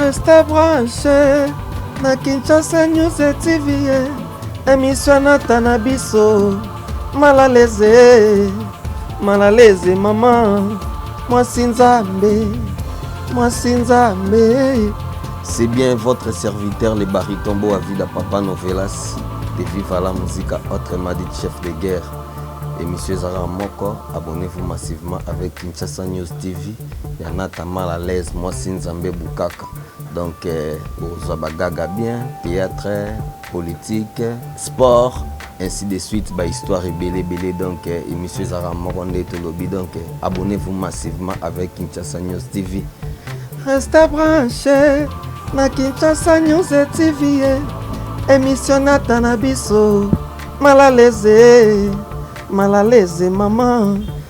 Reste branche na Kinshasa News TV emission nata na biso malaleze malaleze mama mwasi nzambe mwasi nzambe c'est bien votre serviteur le bariton boa vida papa novelas de viva la musica autre madi chef de guerre emission ezalaka moko abonnez-vous massivement avec kinshasa news tv Ya nata mal à l'aise mwasi nzambe bukaka donc okozwa ba gaga bien theatre politique sport ainsi de suite ba histoire ebele ebele donc emission ezalaka moko nde tolobi donc abonnez vous massivement avec Kinshasa News TV reste branché na Kinshasa News TV emission nata na biso malaleze malaleze maman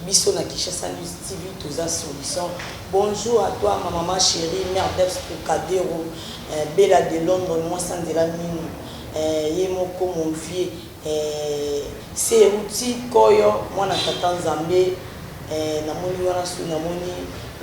Biso na Kinshasa News TV toza solution. Bonjour à toi ma maman cherie mère d'ex trocadero eh, Bella de London mwasi anzela minu eh, ye moko mon vieux eh, se euti koyo mwana tata nzambe eh, namoni wana su namoni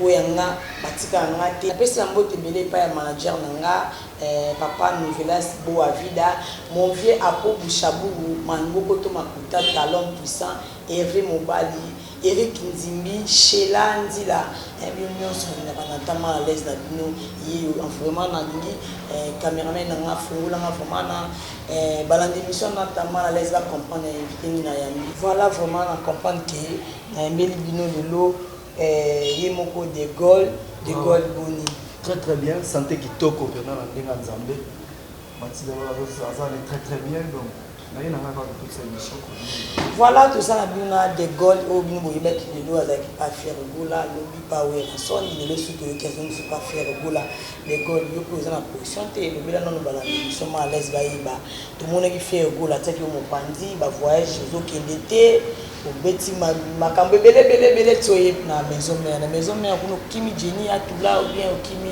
oyo ya nga batika ya nga te napesi ya mbote ebele epai ya manager na nga eh, papa novelas boa vida mon vieux apo bushaburu manbokoto makuta talon puissant Herve mobali, Eric nzimbi, Shella nzila eh bino nionso nalingaka na ta mal à l'aise na bino yeyo en vraiment nalingi eh cameraman na nga afungola nga vraiment na eh balanda emission na ta mal à l'aise ba comprendre ya invite nini na yambi. Voilà vraiment na comprendre que na yambeli bino lelo eh ye moko de Gaulle, de Gaulle boni. Très très bien sante kitoko penza na ndenge ya nzambe matilda aza très très bien donc. Voilà toza na bino na de Gaulle oyo bino boyebaki lelo azalaki pa Ferre Gola lobi pa Werrason lelo soki toyoki azongisi pa Ferre Gola de Gaulle yo mpe oza na position te elobela nano balanda biso ma alaise bayeba tomonaki Ferre Gola atiaki yo mopanzi ba voyage ozokende te obeti makambo ebele ebele ebele ti oye na maison mère na maison mère kuna okimi Jenny atula ou bien okimi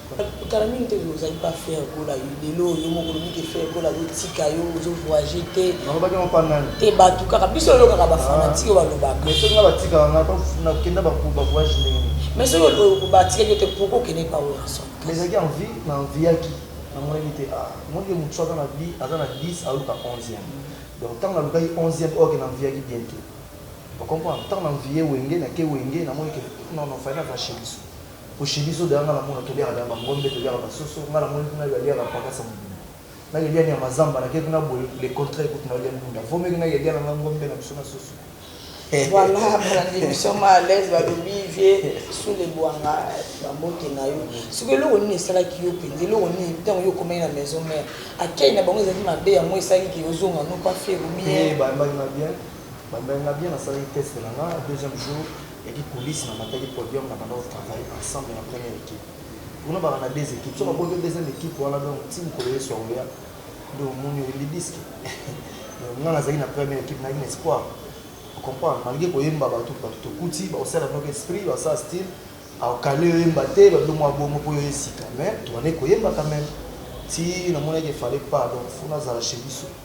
Kala mingi te ozali pa ferre gola yo lelo yo moko olobi ke ferre gola azo tika yo ozo voyage te nalobaki yango pa nani te batu kaka biso oyokaka ba fanatique balobaka mais soki nga batikaka nga na kenda ba ba voyage ndenge nini mais soki batikaki yo te pourquoi okendeki pa werrason mais ezalaki envie na enviaki namonaki te ah omoni ke mutu soki aza na bi aza na 10 aluka 11 ème donc tangu nalukaki 11 ème or ke na enviaki bien te o comprendre tangu na envie wenge nake wenge namoni ke non non fallait nazala chez biso Ko chez biso dejà nga na mona to liaka dejà ba ngombe to liaka ba soso nga na moni kuna ba liaka pagasa mobimba na ke lia nyama zamba na ke kuna boye le contraire kutu na lia ndunda vaut mieux ke na ke lia na nga ngombe na biso na soso Voilà balandi emission ma à l'aise balobi vie sous le bwanga ba mbote na yo siko eloko nini esalaki yo penza eloko nini ntango yo okomaki na maison mère akei na bango ezalaki mabe yango esalaki ke ozonga no pas faire ou bien Eh, bayambaki nga bien bayambaki nga bien nasalaki test na nga deuxième jour Yaki coulisse na mataki podium na bandaki ko travailler ensemble na première equipe kuna baka na deux equipes soki aboti deuxième equipe wana donc ti mukolo yesu akoya nde omoni oyo libiske donc nga nazalaki na première equipe nayaki na espoir comprendre malgré koyemba batu batu tokuti bakosala noki esprit basala style akale oyemba te balobi mwa bongo mpo yo esika mais tobandaki koyemba quand même ti namonaki efale pas donc fo nazala chez biso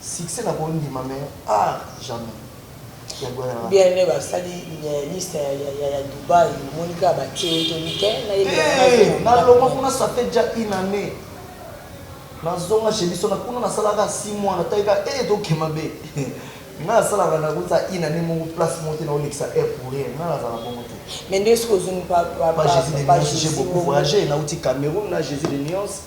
Succès na ko ndima mais art jamais. Bien aime ba sali liste ya Dubaï omoni kaka ba tie ye toli te na ye bela na ye. Te na longwa kuna ça fait déjà une annee na zonga chez biso na kuna na salaka 6 mois na tali kaka eh to ke mabe nga na salaka na kuta une annee moko place moko te na olekisa eh pour rien nga na zala bongo te. Mais nde soki ozongi pa pa pa Jésus de Nyons j'ai beaucoup voyagé na uti Cameroun na Jésus de Nyons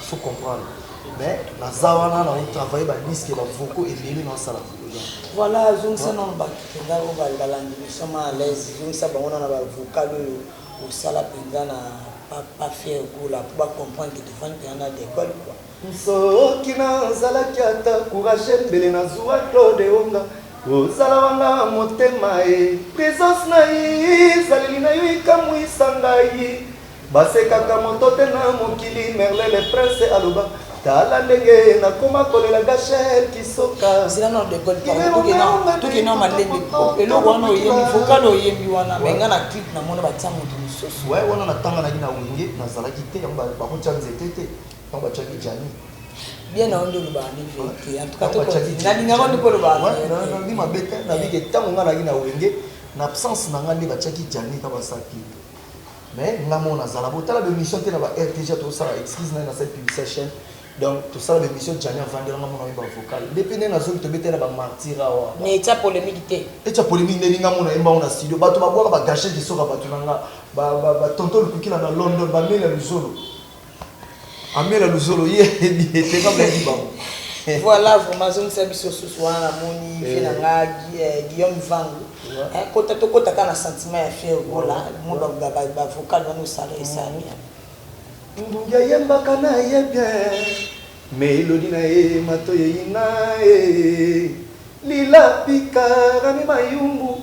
so comprendre mais naza wana na travaille ba disque ba vocaux ebele na sala voilà azongisa nano bato mpenza oyo balandi biso ma à l'aise zongisa bango na na bavocal oyo osala mpenza na pas fier gola mpo bacomprendre que tofandi mpenza na dekole kua soki nazalaki ata courage mbele nazwa claude onga ozala wanga motema e présence na ye ezaleli na yo ekamwisa ngai Basekaka moto te na mokili merle le prince aloba tala ndenge nakoma kolela gachel kisoka zela nao de gol pardon toke nao malembe po eloko wana oyembi vocal oyembi wana me nga na clip na mona batia moto mosusu waye wana natanga naki na wenge nazalaki te yango bakotya nzete te yango batyaki jani bien na ondo loba ni vérité en tout cas to na linga ko ndiko loba na bi mabete na bi ke tango nga na ki na wenge na absence na nga nde batiaki jani ka basaki mais nga moko nazala bo tala be mission te na ba RTG to sala excuse na na cette publicité chaîne donc to sala be mission Gianni avandela nga mona ba vocal depuis ne na zoki to betela ba martyra wa mais etia polemique te etia polemique ne nga mona emba ona studio bato ba bwaka ba gâcher de soka bato na nga ba ba tonton lukukila na London ba mela luzolo Amela luzolo ye te kama yaki bango. Voilà vraiment azongisa biso susu wana namoni vie na nga eh, Guillaume Vangu. Eh, kota to kota ka na sentiment ya fier gola mo ba ba ba vocal wana osala esa mm. bien. Ndungi ayembaka na ye bien. Mais elodi na ye mato ye ina ye. Eh. Lila pika rami mayumbu.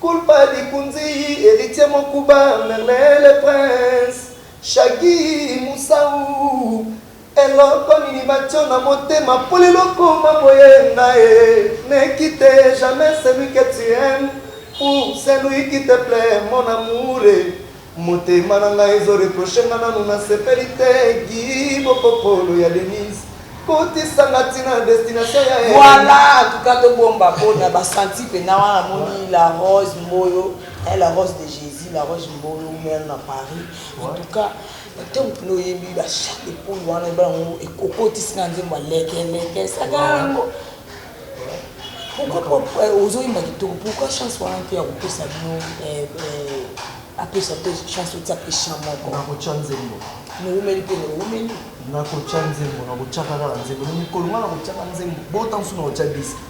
Culpa Likunziyi Heritier Mokuba Merlin le prince Shaggy Musau Eloko nini batio na motema po lelo okoma boye Ngaye ne quitte jamais celui que tu aimes Pour celui qui te plait mon amoure Motema na nga ezo reproche nga nanu na sepeli te Guy bokokolo ya Denise kotisa nga ti na destination ya haine. Voilà en tout cas to bomba pona ba senti pena wana na moni la rose mboyo eh la rose de Jesus la rose mboyo mère na Paris en tout cas ntango mpena oyembi ba chat de poule wana ebala ngo ekokotisi nga nzembo ya leke leke saka yango Pourquoi eh, ozo yemba kitoko pourquoi chance wana mpe ya kopesa bino eh, eh, apesa mpe chance otya mpe chan moko nakotya nzembo nowumeli mpe nowumeli nakotya nzembo nakotyaka kaka nzembo no mikolo nga nakotyaka nzembo bota mosusu nakotya diske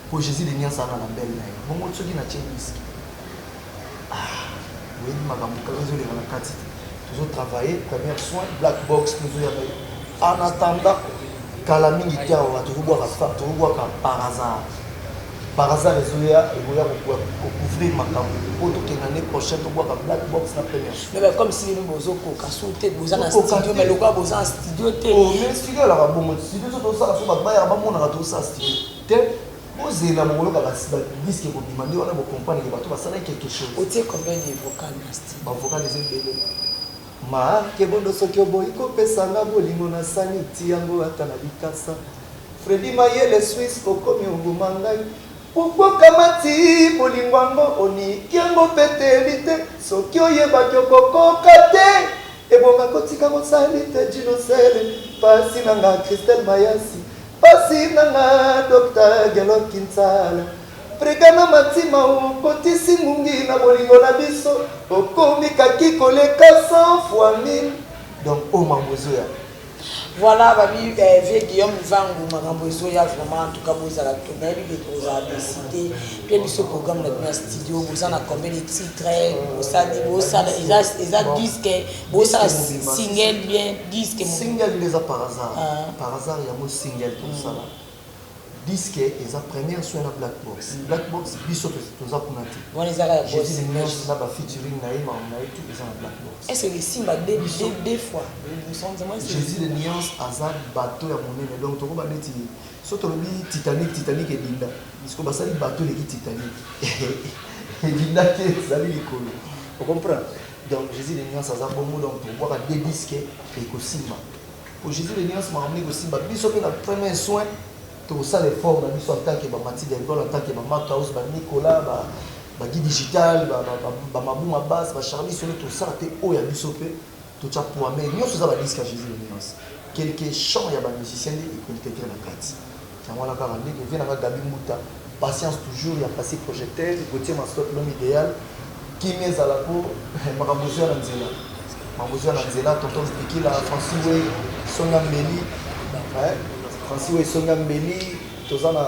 mpo jésus de niansaka na bele na ye bongo soki natye diske Ah, oyebi makambo kaka ezoleka na kati te. Tozo travailler première soin black box tozo ya baye. En attendant kala mingi te awa tokobwaka fa tokobwaka par hasard. Par hasard ezoya ekoya ko couvrir makambo po tokende année prochaine tobwaka black box na première soin. Mais comme si nous bozo koka sou te boza na studio mais lokola boza na studio te. Oh mais studio la bongo studio to sala fo ba baya ba mona ka to sa studio. Te Bozela bokoyoka ba disc ekobima nde wana bo comprendre que bato basalaki quelque chose. Otie combien de vocal na studio? Ba vocal eza ebele ma kebondo soki oboyi kopesa nga bolingo na sani ti yango ata na likasa Freddy mayele suisse okomi oboma ngai pourquoi okamati bolingo yango oniki yango peteli te soki oyebaki okokoka te Ebonga kotika mosali te djino sele pasi na nga christelle mayasi pasi na nga docta gelot kinsala brigana matima okotisi ngungi na bolingo na biso okomi kaki koleka 100 fois 1000 donc o mangozoya Voilà ba mi eh, vieux Guillaume Nzangu makambo ezoya vraiment en tout cas bozala to nayebi que tozala décidé pe biso programme na bino ya studio boza na combien de titres bosali bosala eza eza disque bosala single bien disque mo- Single eza par hasard. Ah. Par hasard yango single tosala. Disque eza première soin na black box. Black box biso toza kuna te. Wana eza kaka boss. Jezi Lineige na ba featuring na ye makambo na ye tout eza na black box. Est-ce que esimba deux biso deux fois? Jezi de nuance aza bateau ya monene donc tokoba neti so tolobi Titanic Titanic edinda. Siko basali bateau eleki Titanic. Edinda te ezali likolo. O comprendre? Donc Jezi de nuance aza bongo donc tokobwaka deux disques ekosimba. Au Jesus de nionso makambo nde ekosimba biso pe na première soin tokosala effort na biso en tant que ba Matilda Etoile en tant que ba Marc House ba Nicolas ba ba Guy digital ba ba Mabou Mabas ba Charly Solo tosala pe oyo ya biso pe totia poids mais nionso eza ba disque ya Jesus de nionso quelque chant ya ba musiciens nde ecomptetre na kati Yango wana kaka ndenge vieux na nga Gaby Mbuta patience toujours ya passi projecteur Gauthier Mascotte l'homme ideal kimia ezala po makambo ezo ya na nzela makambo ezo ya na nzela tonton Zidikila Francis Wei songi ya mbeli eh Francis Wei songi ya mbeli toza na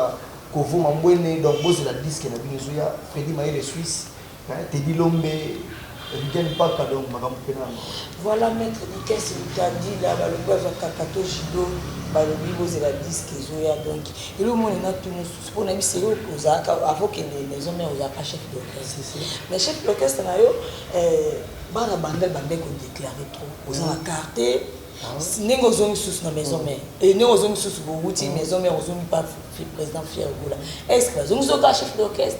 Kovo Mambwene donc bozela disque na bino ezo ya Freddy Mayele Suisse Hein Teddy Lombe, Rigen Mpaka donc makambo pena ya mawa. Voilà maitre Dikes Mutandila balobi bazwa kakato judo balobi bozela disc ezoya donc elo omoni na tout mosusu po nayebi selo ozalaka avant okende maison mère ozalaka chef d'orchestre mais chef d'orchestre na yo eh, bana bandal bande ko déclarer trop oza na carte ah ndenge ozongi susu na maison mère et ndenge ozongi susu bowuti maison mère ozongi pa président fier gola est ce que bazongi zoka chef d'orchestre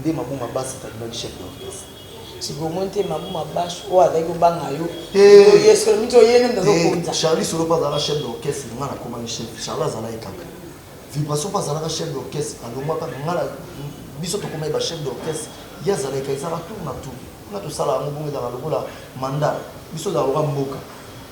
Nde Mabou Mabas akangaki chef d'orchestre. Tshibomoni te Mabou Mabas oyo azalaki kobanga yo. Te. Ye solo miti oye nde moto azokonza. Te. Charly solo mpe azalaka chef d'orchestre nga nakomaki chef. Charly azalaki kaka. Vibration mpe azalaka chef d'orchestre alongwa kaka nga na biso tokomaki ba chef d'orchestre ye azalaki kaka ezalaka tour na tour. Nga tosala yango bongo ezalaka lokola mandat biso ezalaka lokola mboka.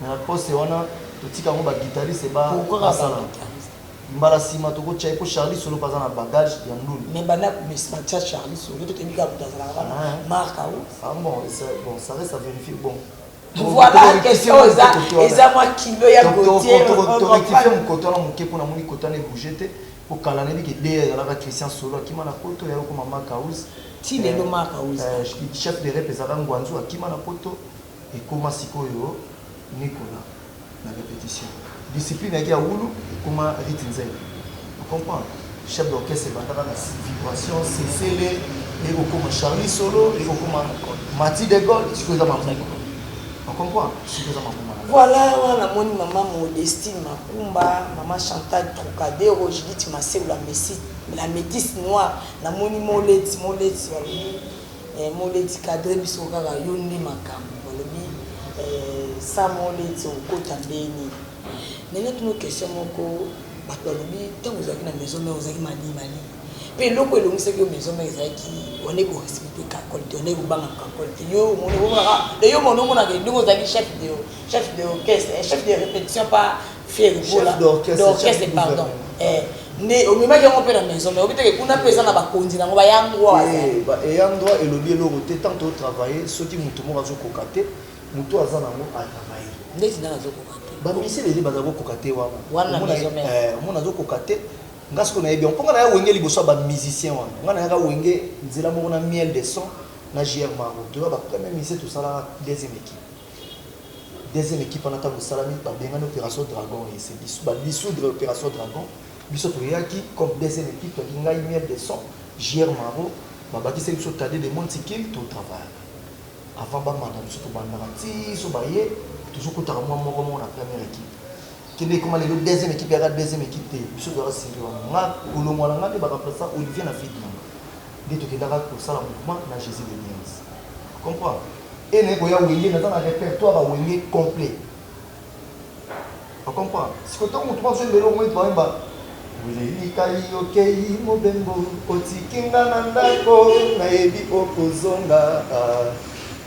Mais na poste wana totika yango ba guitariste ba basala mbala sima toko tia ye po Charly solo pe aza na bagage ya ndule. Mais banda ko mesma tia Charly solo to toyebi kaka mutu azalaka wana ah, eh. marque au. Ah bon, bon ça reste à vérifier bon. Voilà question oyo eza eza mwa kilo ya Gauthier. To rectifier mokoto wana moke po namoni kota na ebouge te po kala nayebi ke DR ezalaka Christian solo akima na poto ya okoma Marc House. Ti lelo eh, Marc House. Eh, chef de rep ezalaka Ngwanzu akima na poto. Ekoma sikoyo Nicolas na repetition. Discipline ayaki ya wulu ekoma Rit Nzele. O comprendre? Chef d'orchestre ebandaka na vibration, sesele, eye kokoma Charly solo, eye kokoma Mathy de Gaulle, sikoyo eza Mavunga. O comprendre? Sikoyo eza Mavunga na biso. Voilà wana namoni maman Modestine Makumba, maman Chantal Trocadero, Judith Masewu la Messi, la metisse noire, namoni Moleti, Moleti balobi Eh moleti cadre biso kaka yo nde makambu balobi eh sa moleti okota ndeni mais na tuna yo question moko batu balobi tangu ozalaki na maison mère ozalaki mali mali pe eloko elongisaki yo maison mère ezalaki wana ko respecter kakol te wana kobanga kakol te yo omoni omonaka de yo mona omonaka ndenge ozalaki chef de chef de orchestre chef de repetition pa Fieri Gola d'orchestre pardon eh nde omemaki yango mpe na maison mais obiteke kuna mpe eza na bakonzi na yango bayangwa eyangwa elobi eloko te tant totravaille soki moto moko azokoka te moto aza nango atravaille ndeti ndanga azokoka te bamisi leli baza kokoka te wana omona azokoka te nga siko nayebi yango mpo nga naya wenge liboso ya bamusicien wana nga nayaka wenge nzela moko na miel de son na jr maro toza bapremier musicien tosalaka deuxième équipe Deuxième equipe wana tango esalami ba bengani operation dragon et c'est bisous ba dissoudre operation dragon biso toyaki comme deuxième equipe toyaki ngai miel de son JR Maro ba bakisaki biso Tade de mon tikil to travaillaka avant ba mata biso tobandaka ti so baye tozo kotaka mwa moko moko na première equipe kende ekoma lelo deuxième equipe yaka deuxième equipe te biso toyaka siri wana nga kolongwa na nga nde ba remplaçant Olivier na fille nanga nde tokendaka kosala mouvement na Jésus de Niens comprendre Heure naye koya wenge naza na repertoire ya wenge complet o comprendre sikoyo tangu mutu moko azo yembela yo okomona neti bayemba Olelikayi okeyi mobembo otiki nga na ndako nayebi okozonga ah,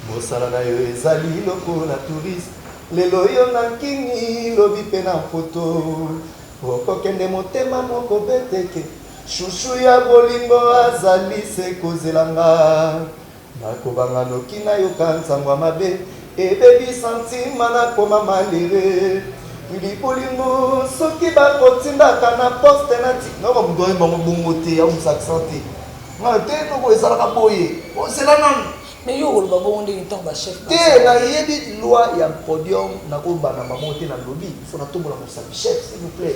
mosala na yo ezali lokola touriste lelo yo na nkini lobi mpe na mpoto okokende motema moko beteke shushu ya bolingo azali se kozela nga Nakobanga noki nayoka nsango ya mabe ebebi sentiment nakoma malheureux Willy bolingo soki bakotindaka na poste nati. Nayoka moto ayemba yango bongo te aumisa accent te nga te noko ezalaka boye ozela nanu. Mais yo okoloba bongo ndenge tango ba chef te baza. nayebi loi ya podium nako banda bango te nalobi faut natombola mosapi chef s'il vous plait.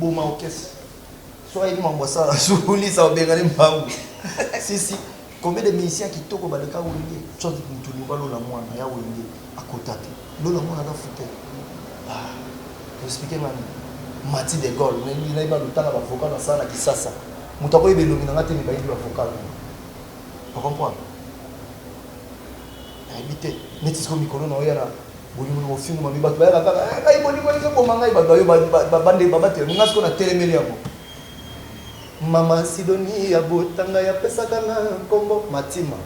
boma okesi soki ayebi mambo asala zulisa obengani mbangu sisi combien de musicien kitoko baleka wenge soit mutu liba lola mwana ya wenge akota te lola mwana na fute ah, explike ngani mati de gol nayebi nayebi alutanga bavoka na sala na kisasa moto akoyeba elongi na ngai te me bayebi bavoka na okompona Nayebi te neti sikoyo mikolo na oya na bolingo na bofingu mabe bato bayaka kaka eh, ngai bolingo ezo boma ngai bato bayo babande babatela nga sikoyo na telemeli yango mama sidoni ya botanga ya pesaka na nkombo matima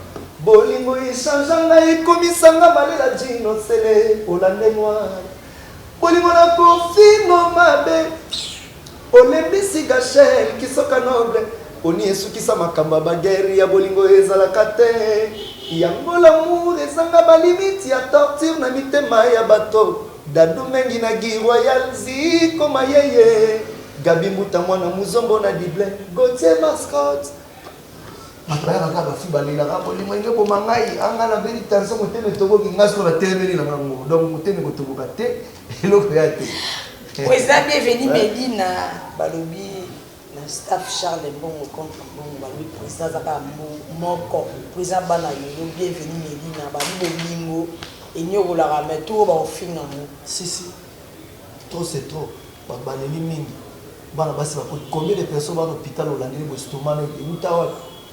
bolingo echangea ngai ekomisanga malela jino sele olande noir bolingo na kofingo mabe Olembisi Gachel kisoka noble poni esukisa makambo ya ba guerre ya bolingo ezalaka te yango l'amour ezanga ba limite ya torture na mitema ya bato Dadou Mengi na Guy royal Zico Mayeye Gaby Mbuta mwana muzombo na Dublin Gauthier Mascotte Bato bayaka kaka ba filles balelaka bolingo elingi eboma ngai ah ngai nabeli tension motema etoboki ngai sikoyo natelemeli na ngai moko donc motema ekotoboka te. eloko ya te oyo eza bienveni medina balobi na staff charles mbongo contre mbongo balobi président aza kaka moko président bana yoyo bienveni medina balobi bolingo enyokolaka me to oyo bakofinga yango sisi trop c'est trop babaleli mingi bana basi bakoti combien de personnes bana hôpital olandeli boestomano euta wapi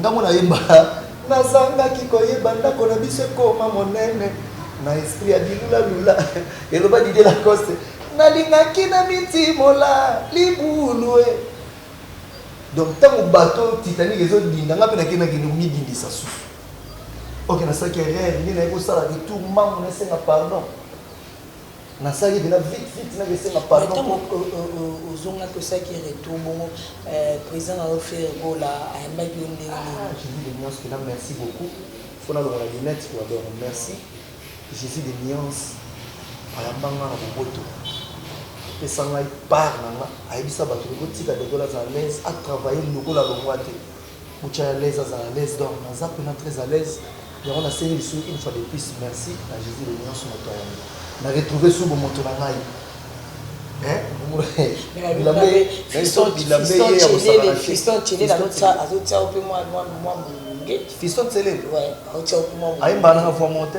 Nga mwana yemba nazangaki koyeba ndako na biso ekoma monene na esprit ya bilula lula eloba Didier Lacoste nalingaki na mitimola libulu e donc ntango bato titanique ezodinda nga mpe nakendaki komidindisa susu oke nasalaki erreur nde naye kosala retour mango nasenga pardon Nasali pena vite vite na kesenga pardon. Ozonga tosaki retour bongo euh, président na yo Ferre Gola ayambaki yo ndenge nini? Ah, je dis de nuance pena merci beaucoup. Faut nalongola lunette to adore. Merci. Jésus de nuance ayamba nga na boboto. Apesa ngai part na nga, ayebisa bato botika degola za à l'aise, atravaille lokola longwa te. Mucha à l'aise azala à l'aise donc naza pena très à l'aise yango na sengi lisusu une fois de plus merci na Jesus le nionso moto ayambi na retrouver sous bomoto na ngai fiston celele ayembana na voix monte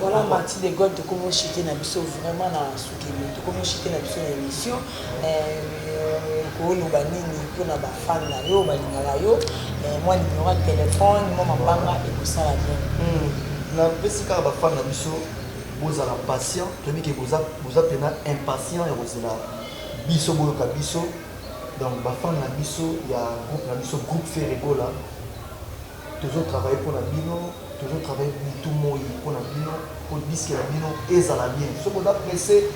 Voilà Marty de Gaulle tokomi o chuter na biso vraiment na sukemi tokomi o chuter na biso na emission oko loba nini pona ba fan na yo balingaka yo mua numero ya telephone mua mabanga ekosala bien. Na pesi kaka ba fan na biso bozala patient toyebi ke boza boza pena impatient ya kozela biso boyoka biso donc ba fan na biso ya groupe na biso groupe Ferre Gola Tozo travailler pona bino, tozo travailler butu moyi pona bino po disque na bino ezala bien. Soki oza presse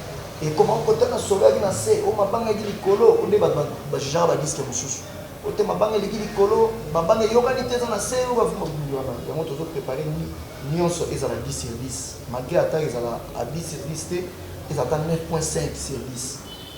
ekomaka ko tala solo eyaki na se oh mabanga eyaki likolo oyo nde batu ba jugeaka ba disque mususu oyo te mabanga eleki likolo mabanga eyokani te eza na se oyo ba vumbi wana yango tozo preparer nionso ezala 10 sur 10 malgre ata ezala a 10 sur 10 te ezala ata 9.5 sur 10.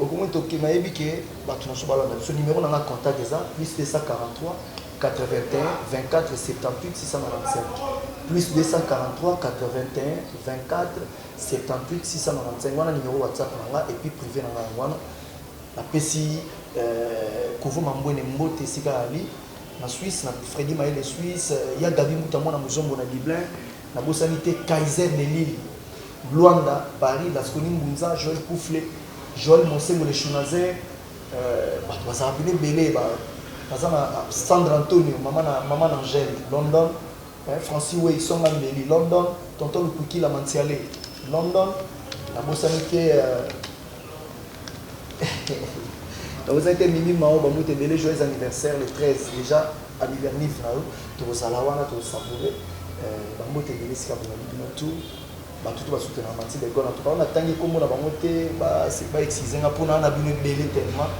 Okomi ndoki nayebi ke batu nasusu balanda biso numero nanga contact eza plus 2482437878624382478695 wana numero whatsapp nanga epuis prive nanga yango wana napesi kovo mambwene mbote esika ali na suisse na fredi mayele suisse ya gaby mbuta mwana muzombo na dublin Nabosani te Kaiser de Lille, Luanda, Paris, Lasconi Ngunza, Joel Kufle, Joel Monsengo le Shunazer, batu bazalaka pena ebele, baza na Sandra Antonio, mama na Angel, London, Franci Wei, Songa Mbeli, London, Tonton Lukuikila Mantsiale, London, nabosani te, nabosani te Mimi Mao, ba mutu ebele, joyeux anniversaire le 13 dejà. Abibia Niv na yo toko zala wana to savoure ba mbote ebele esika bozali bino tout batu tout ba soutenaka Mathilde Ecole en tout cas oyo na tangi kombo na bango te ba ba excuser nga po na na bino ebele tellement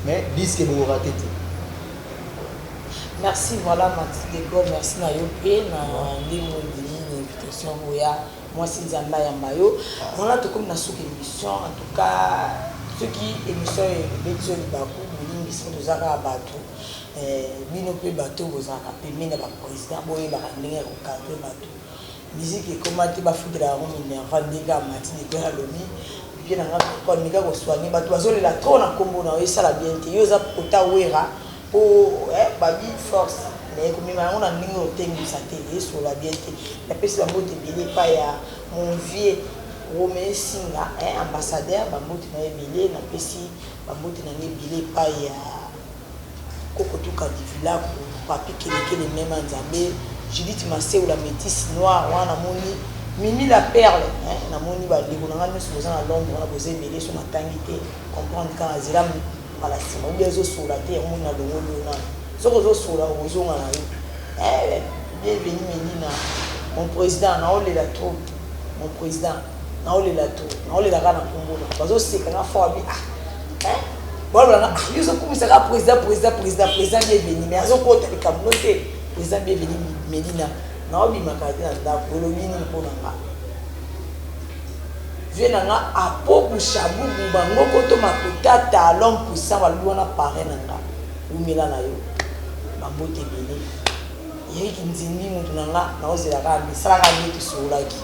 mais disque boko rate te. Merci voila Mathilde Ecole merci na yo pe na ndenge ondimi na invitation yango oya mwasi Nzambe ayamba yo voila tokomi na suka emission en tout cas soki emission ebeti yo libaku bolimbisi toza kaka batu Eeh bino pe batu oyo bozalaka pembeni ya ba president boyebaka ndenge ya ko cadre batu musique ekoma te bafutela yango minerva ndenge amati depuis alobi vieux na nga pourquoi meka ko soigner batu bazolela trop na kombo na yo esala bien te yo oza kota werra po eh babi force mais komema yango na ndenge oyo otengumisa te esolola bien te napesi ba mbote ebele epai ya mon vieux Rome Singa eh ambassadeur ba mbote na yo ebele napesi ba mbote na nga ebele epai ya Koko duka divulaku, papy kelekele mema nzambe, judith masewu la metisse noire wana na moni, mimi la perle eh na moni ba ndeko na nga nioso boza na londre wana boza ebele soki na tangi te comprendre kaka na zela mbala sima ou bien ezo sola te yango omoni na longoli yo nanu soki ozo sola oko zonga na yo eh bienvenue melina mon president nao lela trop mon president Nazo lela tout, nazo lela kaka na kombo na yo. Bazo seka nga fort ba bi ah hein bazo loba nga ah yo ozo kumisa kaka president president president president bienvenue mais azo kota likambo no te president bienvenue Medina nazo bima kala te na ndaku olobi nini mpo na nga vie na nga apo bushabubu bango koto makuta talon puissant balobi wana pare na nga wumela na yo bambote ebele yeki nzimbi moto na nga naozela kaka misalaka nde tosololaki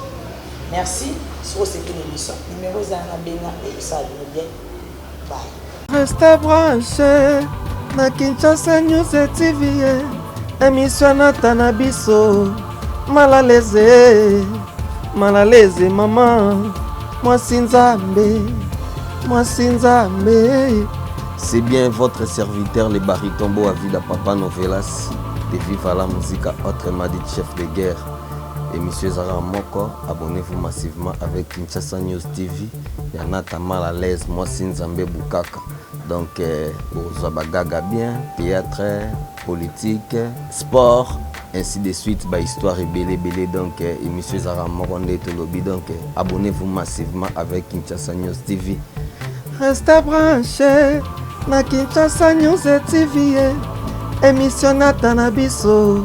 Merci soki osepeli emission numero eza wana benga ekosala bino bien bye. Resta branche na Kinshasa News TV emission nata na biso malaleze malaleze mama mwasi nzambe mwasi nzambe C'est bien votre serviteur, le baryton Boavida Papa Novelas, de Viva la Musica, autrement dit chef de guerre. Emission eza kaka moko, abonnez-vous massivement avec Kinshasa News TV. Ya Nata mal à l'aise, mwasi Nzambe bukaka. Donc euh, bozwa bagaga bien, théâtre, politique, sport, ainsi de suite, ba histoire ebele ebele. Donc euh, emission eza kaka moko nde tolobi. Donc euh, abonnez-vous massivement avec Kinshasa News TV. Restez branchés na Kinshasa News TV. eh. Emission Nata na biso.